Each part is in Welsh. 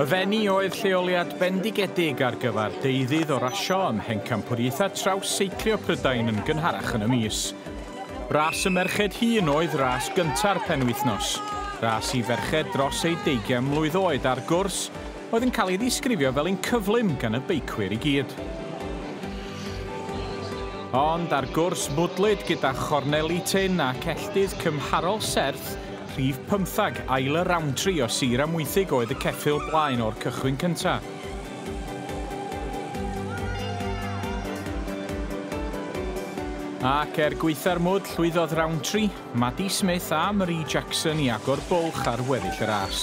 Y Fenni oedd lleoliad bendigedig ar gyfer deuddydd o rasio ym mhencampwriaethau traws seiclio Prydain yn gynharach yn y mis. Ras y merched hun oedd ras gynta'r penwythnos, ras i ferched dros eu deugian mlwydd oed ar gwrs oedd yn cael ei ddisgrifio fel un cyflym gan y beicwyr i gyd. Ond ar gwrs mwdlyd gyda chorneli tyn ac elltydd cymharol serth Prif pymtheg, ail y Roundtree o Sir Amwythig oedd y ceffyl blaen o'r cychwyn cyntaf. Ac er gwaetha'r mwd, llwyddodd Roundtree, Maddie Smith a Marie Jackson i agor bwlch ar weddill y ras.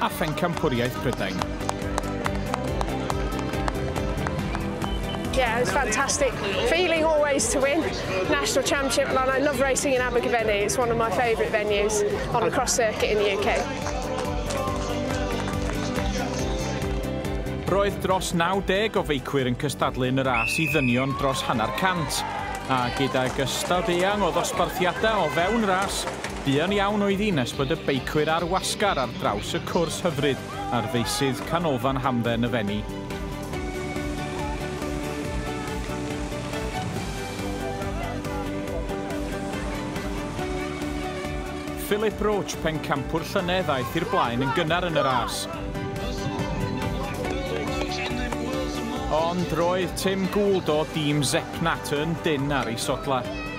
a Phencampwriaeth Prydain. Yeah, it was fantastic. Feeling always to win. National Championship, and I love racing in Abergavenny. It's one of my favourite venues on the cross circuit in the UK. Roedd dros 90 o feicwyr yn cystadlu yn y ras i ddynion dros hanner cant, a gydag ystod eang o ddosbarthiadau o fewn ras, Buan iawn oedd hi nes bod y beicwyr ar wasgar ar draws y cwrs hyfryd ar feysydd Canolfan Hamdden y Fenni. Philip Roche, pencampwr llynedd, aeth i'r blaen yn gynnar yn y ras. Ond roedd Tim Gould o dîm Zepnat yn dynn ar ei sodlau.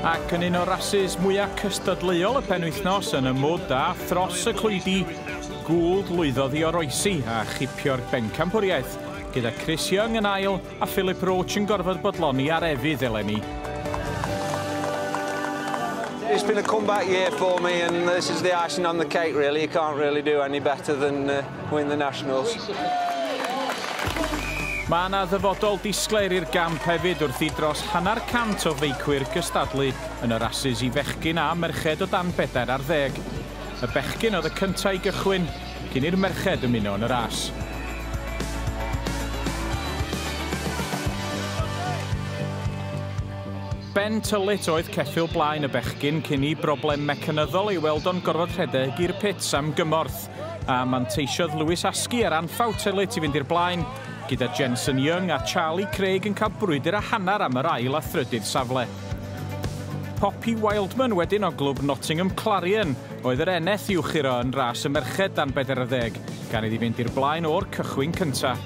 Ac yn un o rasys mwyaf cystadleuol y penwythnos yn y mwd a thros y clwydi, Gould lwyddodd i oroesi a chipio'r bencampwriaeth, gyda Chris Young yn ail, A Philip Roach yn gorfod bodloni ar efydd eleni. It's been a comeback year for me and this is the icing on the cake really. You can't really do any better than uh, win the Nationals. Mae yna ddyfodol disglair i'r gamp hefyd wrth i dros hanner cant o feicwyr gystadlu yn y rasys i fechgyn a merched o dan bedair ar ddeg. Y bechgyn oedd y cyntaf i gychwyn, cyn i'r merched ymuno yn y ras. Ben tyllut oedd ceffyl blaen y bechgyn cyn i broblem mecanyddol ei weld o'n gorfod rhedeg i'r pits am gymorth, a manteisiodd Lewis Askey ar anffawt tyllut i fynd i'r blaen, gyda Jensen Young a Charlie Craig yn cael brwydr a hanner am yr ail a thrydydd safle. Poppy Wildman wedyn o glwb Nottingham Clarion Oedd yr eneth i'w churo yn ras y merched dan 40, gan iddi fynd i'r blaen o'r cychwyn cyntaf.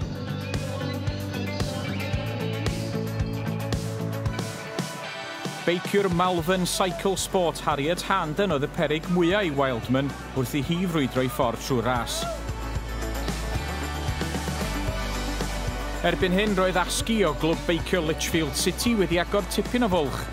Beiciwr Malvern Cycle Sport Harriet Harnden oedd y peryg mwyaf i Wildman wrth i hi frwydro ei ffordd trwy'r ras. Erbyn hyn roedd Askey o glwb beicio Lichfield City wedi agor tipyn o fwlch.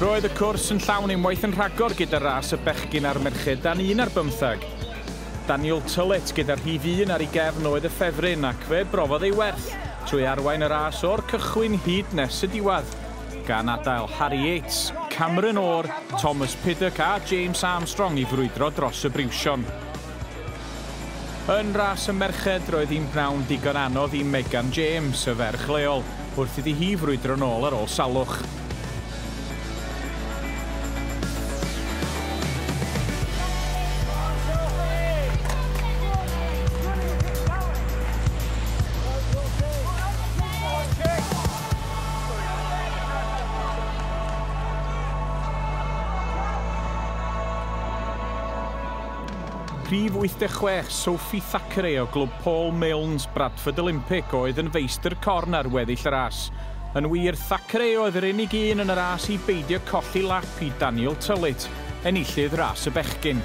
Roedd y cwrs yn llawn unwaith yn rhagor gyda ras y bechgyn a'r merched dan un ar bymtheg. Daniel Tullett gyda rhif un ar ei gefn oedd y ffefryn ac fe brofodd ei werth trwy arwain y ras o'r cychwyn hyd nes y diwedd, gan adael Harri Yates, Cameron Orr, Thomas Piddock a James Armstrong i frwydro dros y briwsion. Yn ras y merched, roedd hi'n bnawn digon anodd i Megan James, y ferch leol, wrth iddi hi frwydro'n ôl ar ôl salwch. Rhif 86, Sophie Thackeray o Glwb Paul Milnes, Bradford Olympic, oedd yn feistr corn ar weddill y ras. Yn wir, Thackeray oedd yr unig un yn y ras i beidio colli lap i Daniel Tullitt, enillydd ras y bechgyn.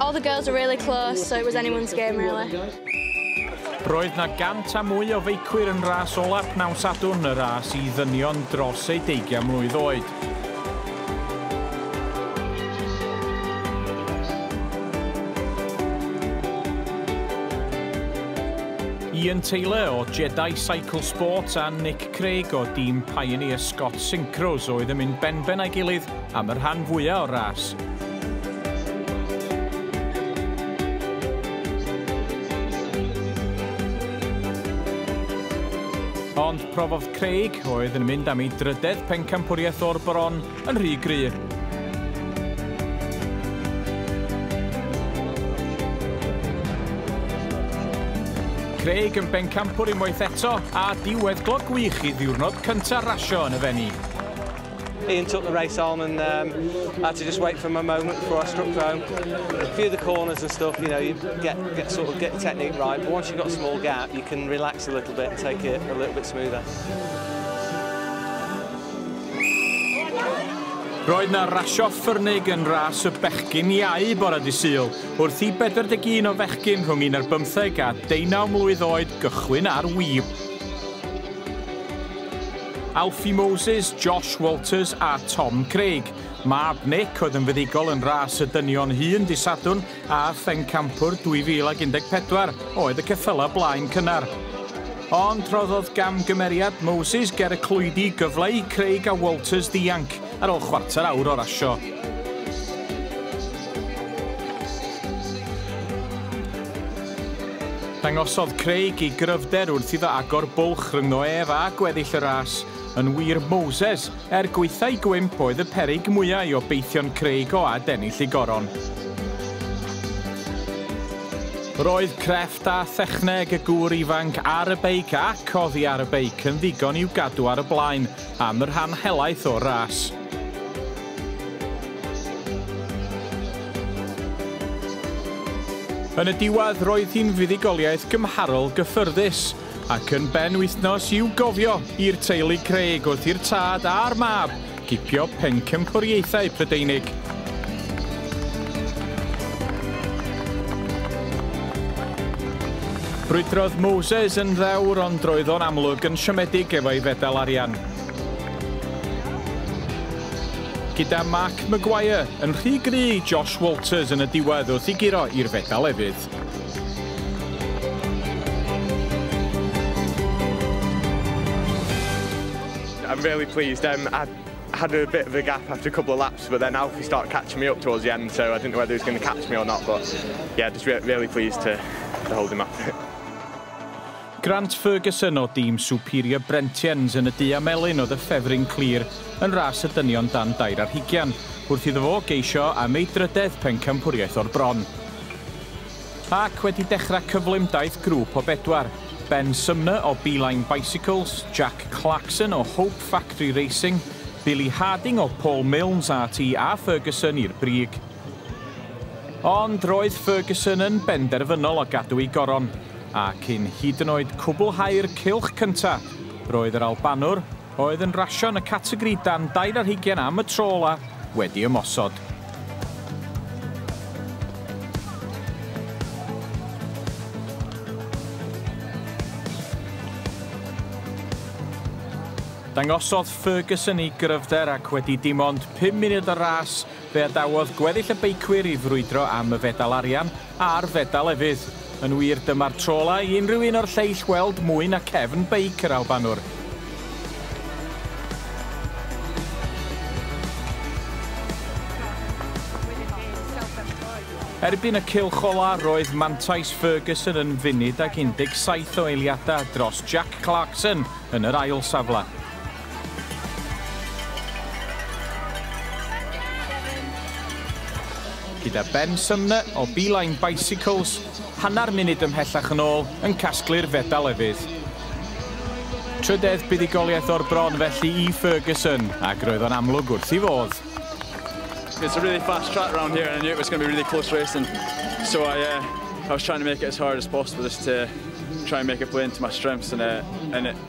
All the girls were really close, so it was anyone's game really. Roedd na gant a mwy o feicwyr yn ras ola pnawn Sadwrn, y ras i ddynion dros eu deugian mlwydd oed. Ian Taylor o Jedi Cycle Sports a Nick Craig o dîm Pioneer Scott Synchros oedd yn mynd benben a'i gilydd am y rhan fwyaf o'r ras. Ond profodd Craig, oedd yn mynd am ei drydedd pencampwriaeth o'r bron, yn rhy gry. Craig yn bencampwr unwaith eto, a diwedd glog wych i ddiwrnod cyntaf rasio yn y Fenni. Ian took the race on and um, I had to just wait for my moment before I struck home. A few of the corners and stuff, you know, you get, get sort of get your technique right, but once you've got a small gap, you can relax a little bit and take it a little bit smoother. Roedd na rasio ffyrnig yn ras y bechgyn iau bore di syl, wrth i 41 o fechgyn rhwng 11 ar bymtheg a deunaw mlwydd oed gychwyn ar wib. Alfie Moses, Josh Walters a Tom Craig. Mab Nick oedd yn fuddugol yn ras y dynion hŷn dy Sadwrn a Phencampwr 2014 oedd y ceffylau blaen cynnar. Ond rhoddodd gamgymeriad Moses ger y clwydi gyfle i Craig a Walters ddianc ar ôl chwarter awr o rasio. Dangosodd Craig ei gryfder wrth iddo agor bwlch rhyngddo ef a gweddill y ras. Yn wir, Moses, er gwaethau gwymp, oedd y peryg mwya' i obeithion Craig o adennill ei goron. Roedd crefft a thechneg y gŵr ifanc ar y beic ac oddi ar y beic yn ddigon i'w gadw ar y blaen. am y rhan helaeth o'r ras. Yn y diwedd, roedd hi'n fuddugoliaeth gymharol gyffyrddus, ac yn ben wythnos i'w gofio i'r teulu Craig wrth i'r tad a'r mab gipio pencampwriaethau Prydeinig. Brwydrodd Moses yn ddewr ond roedd o'n amlwg yn siomedig efo'i fedal arian. Gyda Mark Maguire yn rhy gry i Josh Walters yn y diwedd wrth i guro i'r fedal efydd. I'm really pleased. Um, I had a bit of a gap after a couple of laps, but then Alfie started catching me up towards the end, so I didn't know whether he was going to catch me or not, but yeah, just re really pleased to, to hold him off. Grant Ferguson o dîm Superior Brentians yn y du a melyn oedd y ffefryn clir yn ras y dynion dan dair ar hugian, wrth iddo fo geisio am ei drydedd pencampwriaeth o'r bron. Ac wedi dechrau cyflymdaith grŵp o bedwar, Ben Sumner o Beeline Bicycles, Jack Clarkson o Hope Factory Racing, Billy Harding o Paul Milnes RT a Ferguson i'r brig. Ond roedd Ferguson yn benderfynol o gadw ei goron, a cyn hyd yn oed cwblhau'r cylch cyntaf, roedd yr Albanwr, oedd yn rasio yn y categori dan dair ar hugain am y tro ola' wedi ymosod. Dangosodd Ferguson ei gryfder ac wedi dim ond pum munud o ras fe adawodd gweddill y beicwyr i frwydro am y fedal arian, a'r fedal efydd. Yn wir, dyma'r tro ola' i unrhyw un o'r lleill weld mwy na cefn beic yr Albanwr. Erbyn y cylch ola' roedd mantais Ferguson yn funud ag 17 o eiliada' dros Jack Clarkson yn yr ail safle. Gyda Ben Sumner o Beeline Bicycles hanner munud ymhellach yn ôl yn casglu'r fedal efydd. Trydedd buddugoliaeth o'r bron felly i Ferguson ac roedd o'n amlwg wrth i fodd. It's a really fast track round here and I knew it was going to be really close racing. So I, uh, I was trying to make it as hard as possible just to try and make it play into my strengths and, uh, and it,